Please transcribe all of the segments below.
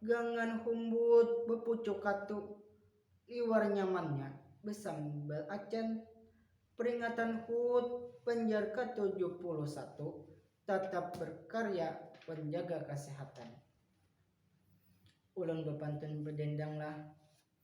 Gangan humbut bapucuk katu, liwar nyamannya basambat acan. Peringatan hut banjar ke tujuh puluh satu, tatap berkarya wan jaga kasehatan. Ulun bapantun badendanglah.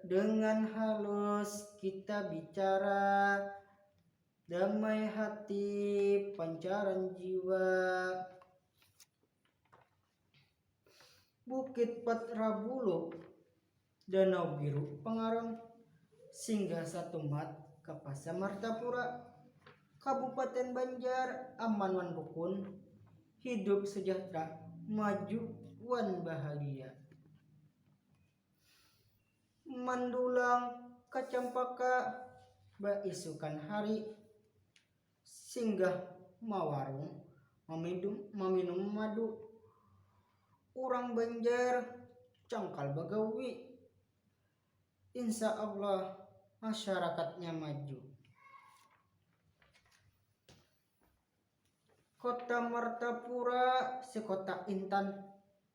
Dengan halus kita bicara, damai hati pancaran jiwa. Bukit Patra Bulu, Danau Biru Pangaran, Singgah Satumat, Kapasa Martapura, Kabupaten Banjar, aman wan rukun, hidup sejahtera, maju wan bahagia. Mandulang ka Campaka baisukan hari, singgah mawarung maminum maminum madu. Urang Banjar cangkal bagawi, insya Allah masyarakatnya maju. Kota Martapura si kota intan.